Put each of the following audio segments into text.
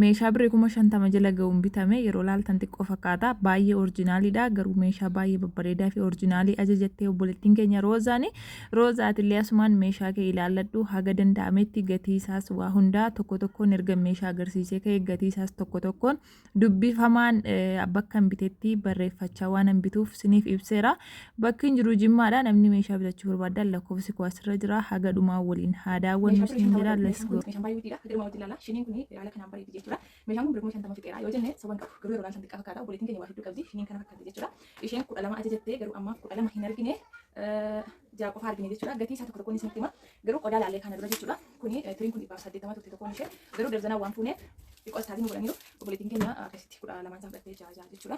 Meeshaa birrii 50,000 jala ga'uun bitame yeroo laaltan xiqqoo fakkaata. Baay'ee orjinaaliidha. Garuu meeshaa baay'ee babbareedaa fi orjinaalii ajajattee obboleettiin keenya Roozaani. Roozaa atillee asumaan meeshaa kee ilaalladhu haga danda'ametti gatii isaas waa hundaa tokko tokkoon erga meeshaa agarsiisee ka'e gatii isaas tokko tokkoon dubbifamaan bakka hin bitetti barreeffachaa waan hin bituuf siniif ibseera. Bakki hin jiru jimmaadha namni meeshaa bitachuu barbaadan lakkoofsi koo asirra jira haga dhumaa waliin haa daawwannu Meeshaa siin jedha let's go. Meeshaan baay'ee guddiidha. Dirma wajjin laala. Shiniin kun haala kanaan bareeddi jechuudha. Meeshaan kun birrii shantama fixeera yoo jenne soba hin qabu. Garuu yeroodhaan san xiqqaa fakkaata. Obboleettiin keenya waa hedduu qabdi. Shiniin kana fakkaatti jechuudha. Isheen kudha lama ajajattee garuu ammaaf kudha lama hin argine. Ja'a qofa argine jechuudha. Gatii isaa tokko tokkoon isinitti hima. Garuu qodaa laallee kana dura jechuudha. Kuni tiriin kun dhibbaaf saddeettama turte tokkoon ishee. Garuu darzanaa waan fuuneef xiqqoo isaatiin godhaniiru. Obboleettiin keenya akkasitti kudha lamaan isaa fudhattee ja'a ja'a jechuudha.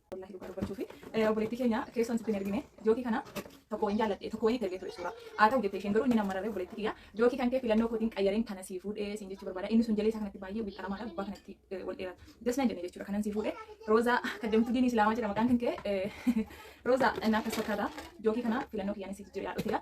Wallahi dhugaa dubbachuufi eh, obboleettii keenya keessoon sitti hin ergine jookii kana tokko wayin jaalladhe tokko wayin itti ergee ture suuraa haa ta'u jettee isheen garuu inni nama rarree obboleettii kiyya jookii kan kee filannoo kootiin qayyareen kana sii fuudhee siin jechuu barbaada inni sun jalee isaa kanatti baay'ee wixxaramaadha gubbaa kanatti eh, wal dheerata jas nan jenne jechuudha kanan sii fuudhee roozaa kaddamtuu diinii islaamaa jedha maqaan kan kee eh, roozaa naaf as fakkaata jookii kana filannoo kiyyaan siif jira yaadhoteera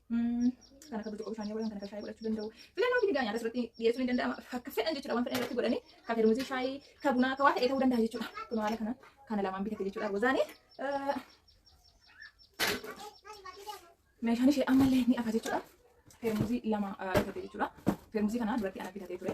Kan akka burcuqqoo bishaanii godhan, kan akka shaayii godhachuu danda'u. Filannoo fi figaa nyaata asirratti dhiyeessuun ni danda'ama. Akka fedhan jechuudha waan fedhan irratti godhanii kan fedhamuutiin shaayii, kan bunaa, kan waa ta'ee ta'uu danda'a jechuudha. Kun haala kana kana lamaan bitate jechuudha. Rozaanii meeshaan ishee ammallee ni hafa jechuudha. Feermuuzii lama bitate jechuudha. Feermuuzii kana duratti ana bitatee ture.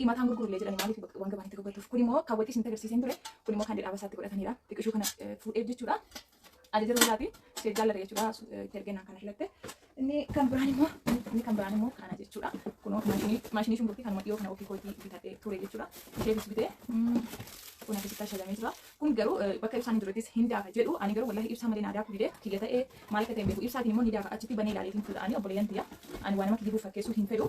Himataan gurgurullee jedhanii maaliif waan gabaan itti gurgurtuuf kun immoo kaawwatii isin agarsiiseen ture kun immoo kan dhedhaaba isaatti godhataniidha xiqqishuu kana fuudheef jechuudha ajaja yeroo isaati ishee jaalladha jechuudha itti ergennaan kana filatte inni kan biraan immoo inni kan biraan immoo kana jechuudha kunoo maashinii maashinii shunkurtii kanuma dhiyoo kana ofii kootii bitadhee ture jechuudha ishee bisbitee kun akkasitti ashalamee jira kun garuu bakka ibsaan hin jirrettis hin daafa jedhu ani garuu wallahi ibsaa malee naa daaku didee kiyya ta'ee maal akka ta'e hin beeku ibsaatiin immoo ni daafa achitti banee ilaaleetiin fudha'anii obboleeyyan tiyya ani waan nama kijibuuf fakkeessuu hin fedhu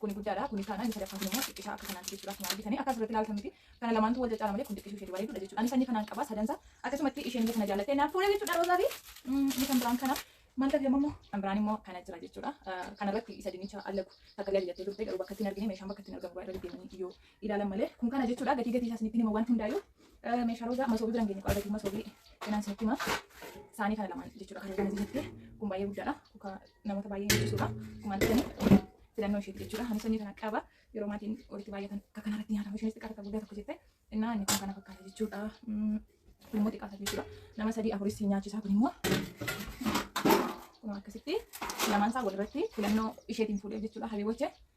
Kuni guddaadha, kuni taanaan inni sadaffaan kunimmoo xiqqisha akka kanaati jechuudha akkuma argitani. Akka asirratti ilaaltan miti. Kana lamaantu wal caccaala malee kun xiqqishuu isheeti bareeduudha jechuudha. Ani sanyii kanaan qaba sadansa. Akkasumatti isheen illee kana jaallattee naaf fuudha jechuudha roozaa fi inni kan biraan kana. Maal tafi amma immoo kan biraan immoo kana jira jechuudha. Kanarratti isa dinnicha allagu takka illee ajajattee turte garuu bakka ittiin argine meeshaan bakka ittiin argamu irra deddeemanii yoo ilaalan malee kun kana jechuudha gatii gatii isaa isinitti hima waan hundaayyuu. Meeshaa roozaa masoobii biraan geenye qabatuu masoobii kanaan isinitti hima. Saanii kana lamaan jechuudha kan argamu jirti. Kun baay'ee guddaadha. Kuka namoota baay'ee hin ibsuudha. Kumaan ta'anii filannoo isheeti jechuudha. Ani sanyii kana qaba. Yeroo maatiin walitti baay'atan akka kana irratti nyaatamu isheenis xiqqaa takka guddaa tokko jette. Innaa inni kun kana fakkaata jechuudha. Kun immoo xiqqaa takka jechuudha. Nama sadii afuris si nyaachisaa kun immoo kun akkasitti lamaan isaa walirratti filannoo isheetiin fuudhee jechuudha. Habibochee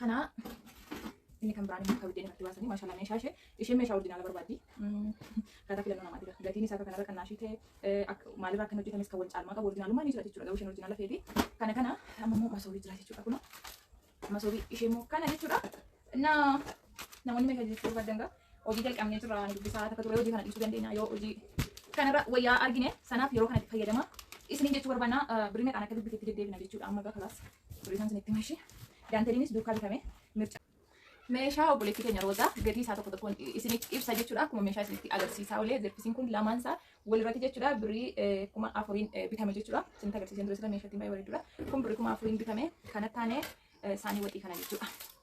Kana inni kan biraan akka biddeen irratti baasanii maashaallah meeshaa ishee isheen meeshaa ordinaala barbaaddi. Akkaataa filannoo namaati jira. Gatiin isaa akka kanarra kan naashii ta'e maalirraa akka hin hojjetames kan wal caalmaa qabu ordinaalummaa ni jira jechuudha. Garuu isheen ordinaala feeti. Kana kana amma immoo masoobii jira jechuudha kuna. Masoobii ishee immoo kana jechuudha. Na namoonni meeshaa jechuu barbaadan gaa Hojii jalqabnee jirra ni dubbisaa takka turee hojii kana dhiisuu dandeenya yoo hojii kanarra wayyaa argine sanaaf yeroo kanatti fayyadama isiniin jechuu barbaanna birrii meeqaan akka dubbifetti deddeebina jechuudha amma egaa kalaas birrii isaan isinitti mashi daanteliinis duukaa bitame mirca meeshaa obboleetti keenya roozaa gatii isaa tokko tokkoon isinitti ibsa jechuudha akkuma meeshaa isinitti agarsiisaa olee zerfisiin kun lamaan isaa walirratti jechuudha birrii eh, kuma afuriin eh, bitame jechuudha isinitti agarsiiseen ture sila meeshaa ittiin baay'ee bareedudha kun birrii kuma afuriin bitame kana taane eh, saanii waxii kana jechuudha.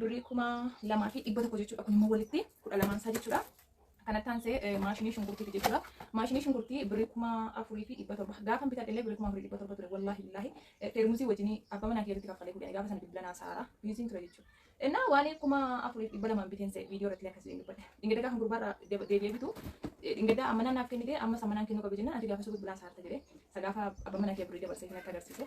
Birrii kuma lamaa fi dhibba tokko jechuudha. Kun immoo walitti kudha lamaan isaa jechuudha. Kanatti aansee eh, maashinii shunkurtiiti jechuudha. Maashinii shunkurtii birrii kuma afurii fi dhibba torba. Gaafa bitadhe illee birrii kuma afurii dhibba torba ture. Wallaahi billaahi eh, teermusii wajjin abbaa manaa kiyyaatti kaffalee fuudhanii gaafa sana bilbila naa saaraa biiziin ture jechuudha. Innaa waan kuma afurii fi dhibba lamaan biteen se'e viidiyoo irratti akkasiin dubbadhe. Dhingada gaafa gurbaa irraa deb- deebi'ee bitu eh, dhingada ammanaa naaf kennite amma sammanaan kennuu qabu jennaan ati gaafa suutu bilaa saarta jedhee sagaafa abbaa manaa kiyya birrii dabarsee natti agarsiise.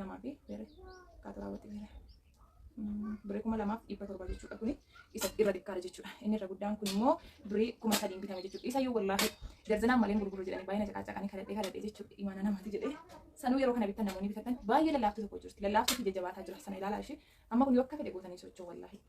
lamaa fi bere kaatu raawwate bere bere kuma lamaaf dhibba torba jechuudha kuni isa irra xiqqaadha jechuudha inni irra guddaan kun immoo bere kuma sadiin bitame jechuudha isa yoo wallaahi darzinaan malee gurguru jedhanii baay'ina caqaacaqanii kadhadhee kadhadhee jechuudha imaana namatti jedhee sanuu yeroo kana bittan namoonni bitatan baay'ee lallaaftuu tokko jirti lallaaftuu fi jajjabaataa jira sana ilaalaa ishee amma kun yoo akka fedhe gootanii socho'u wallaahi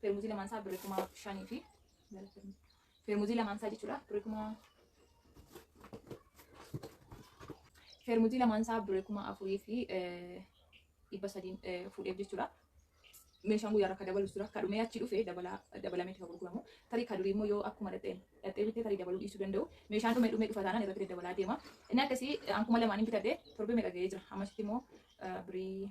Feermuzii lamaan isaa birrii kuma shanii fi feermuzii lamaan isaa jechuudha birrii kuma feermuzii lamaan isaa birrii kuma afurii fi eh, dhibba sadiin eh, fuudheef jechuudha. Meeshaan guyyaa rakka dabalus dura akka dhumee achi dhufe dabalaa dabalamee itti gurguramu. Tarii ka durii immoo yoo akkuma dhadheen dhadhee bitee tarii dabaluu dhiisuu danda'u. Meeshaan dhumee dhumee dhufa taanaan irratti daddabalaa deema. Inni akkasii eh, ankuma lamaaniin bitadhe torbee meeqa ga'ee jira. Ammasitti immoo eh, birrii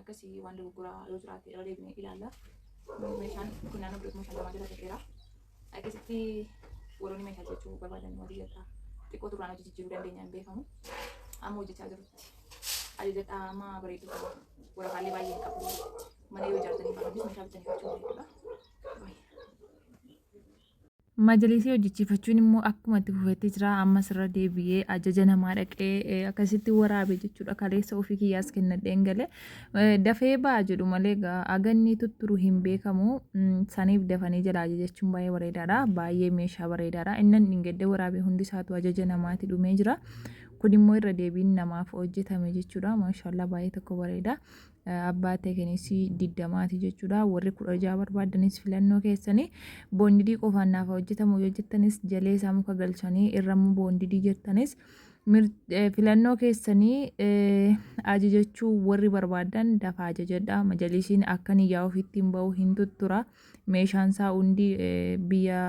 Akkasii waan dogoggoraa yoo jiraate irra deebinee ilaalla. Meeshaan kun naannoo biratti meeshaa namaa jala ta'eera. Akkasitti warroonni meeshaa jechuu barbaadan hojii jedhaa xiqqoo turraan hojii jijjiiruu dandeenya hin beekamu. Amma hojjechaa jirutti ajajadhaa amma bareedu qaba. Waraqaalee baay'ee hin qabu. Mana yoo ijaartanii qabanis meeshaa bitanii gochuu dandeenya. Majalisii hojjechiifachuun immoo akkuma itti fufetti jira. Ammas irra deebi'ee ajaja namaa dhaqee akkasitti waraabe jechuudha. Kaleessa ofii kiyyaas kennadheen galee dafee ba'a jedhu malee aganni tutturu hin beekamu. Saniif dafanii jala ajajachuun baay'ee bareedaadha. Baay'ee meeshaa bareedaadha. Innan dhingedda waraabe hundi isaatu ajaja namaati dhumee jira. Kun immoo irra deebiin namaaf hojjetame jechuudha. Maashaallah baay'ee tokko bareeda. abbaa teekenis digdamaati jechuudha warri kudha ja'a barbaadanis filannoo keessanii boondidii qofaan naaf hojjetamu yoo jettanis jalee isaa muka galchanii irrammoo boondidii jettanis filannoo keessanii ajajachuu warri barbaadan dafaa ajajadha majalisiin akkan iyyaa ofitti hin ba'u hin tuttura meeshaan isaa hundi biyya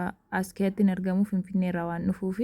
askeetti hin argamu finfinneerraa waan dhufuufi.